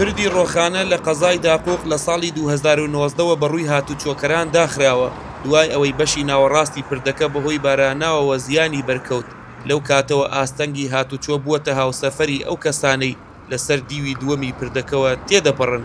پردی ڕۆخانە لە قەزای داقوق لە ساڵی دوو هەزار و نۆزدە وە بەڕووی هاتوچۆکەران داخراوە، دوای ئەوەی بەشی ناوەڕاستی پردەکە بەهۆی باراناوەوە زیانی بەرکەوت، لەو کاتەوە ئاستەنگی هاتوچۆ بووەتە هاوسەفەری ئەو کەسانەی لەسەر دیوی دووەمی پردەکەوە تێدەپەڕن.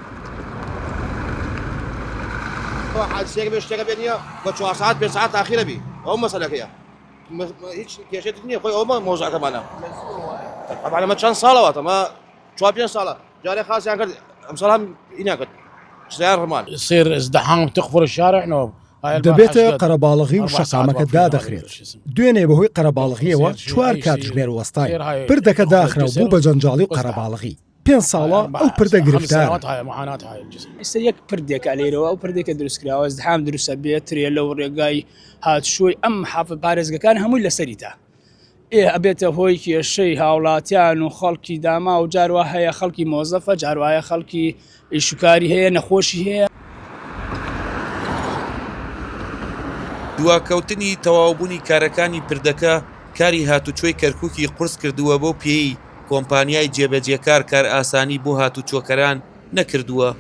دەبێتە قەرەباڵغی و شەقامەکە دادەخرێت دوێنێ بەهۆی قەرەباڵغیەوە چوار کاتژمێر وەستاین پردەکە داخرا و بوو بە جەنجاڵی و قەرەباڵغی پێنج ساڵە ئەو پردە گرفتار ئستا یەک پردێکە لێرەوە ئەو پردێکە دروستکراوە زحام دروستە بێت ترێ لەو ڕێگای هاتشوی ئەم حاف پارێزگەکان هەمووی لەسەریدا ئێ ئەبێتە هۆی کێشەی هاوڵاتیان و خەڵکی داما و جاروە هەیە خەڵکی مۆزەفە جاروایە خەڵکی ئیش و کاری هەیە نەخۆشی هەیە. دواکەوتنی تەواوبوونی کارەکانی پردەکە کاری هاتوچۆی کەرکوکی قورس کردووە بەو پێیەی کۆمپانیای جێبەجێکار کارئاسانی بۆ هاتوچۆکەران نەکردووە.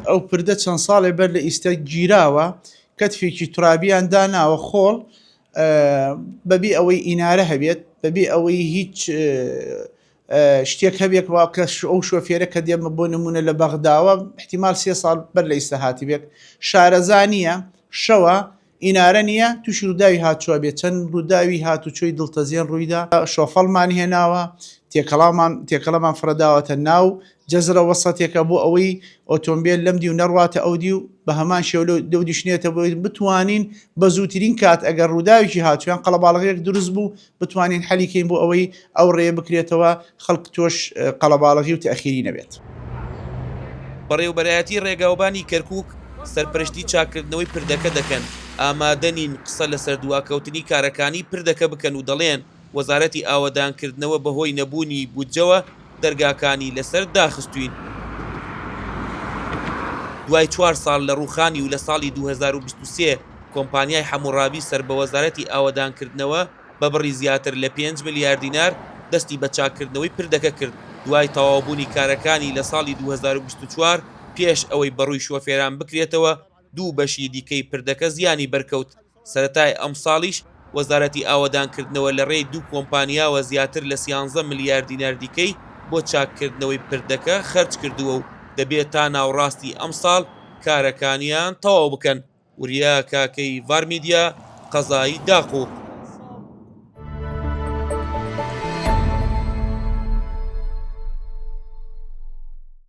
ئەو پردە چەند ساڵێ بەر لە ئیستە گیراوە کەتفێکی تورابیان داناوە خۆڵ بەبێ ئەوەی ئینارە هەبێت بەبێ ئەوەی هیچ شتێک هەبێ کە وا کە ئەو شۆفێرە کە دێمە بۆ نمونە لە بەغداوە احتیمال سێ ساڵ بەر لە ئیستا هاتبێت شارەزا نییە شەوە ئینارە نییە تووشی ڕووداوی هاتووە بێت چەند ڕووداوی هاتوچۆی دڵتەزیێن ڕوویدا شۆفەڵمان هێناوە تێکەڵامان تێکەڵەمان فرەداوەتە ناو جزرە وەسەتێکە بۆ ئەوەی ئۆتۆمبێل لەم دیو نەڕواتە ئەو دیو، بە هەمان شێوە لەو دیوش نێتە بۆ ئەوەی بتوانین بە زووترین کات ئەگەر ڕووداوێکی هات یان قەڵەباڵغییەک دروست بوو بتوانین حەلی کەین بۆ ئەوەی ئەو ڕێیە بکرێتەوە خەڵک تۆش قەڵەباڵغی و تەئخیری نەبێت. بەڕێوەبەرایەتی ڕێگاوبانی کەرکوک سەرپەرشتی چاککردنەوەی پردەکە دەکەن، ئامادەنین قسە لەسەر دواکەوتنی کارەکانی پردەکە بکەن و دەڵێن، وەزارەتی ئاوەدانکردنەوە بەهۆی نەبوونی بودجەوە دەرگاکانی لەسەر داخستووین. دوای چوار ساڵ لە ڕووخانی و لە ساڵی دوو هەزار و بیست و سێ کۆمپانیای حەموڕابی سەر بە وەزارەتی ئاوەدانکردنەوە بە بڕی زیاتر لە پێنج ملیار دینار دەستی بە چاککردنەوەی پردەکە کرد دوای تەواوبوونی کارەکانی لە ساڵی دوو هەزار و بیست و چوار پێش ئەوەی بەڕووی شۆفێران بکرێتەوە دوو بەشی دیکەی پردەکە زیانی بەرکەوت سەرەتای ئەمساڵیش وەزارەتی ئاوەدانکردنەوە لە رێی دوو کۆمپانیاوە زیاتر لە سیانزە ملیار دینار دیکەی بۆ چاککردنەوەی پردەکە خەرجکردووە و دەبێت تا ناوەڕاستی ئەمساڵ کارەکانیان تەواو بکەن. وریا کاکەی ڤارمیدیا، قەزای داقووق.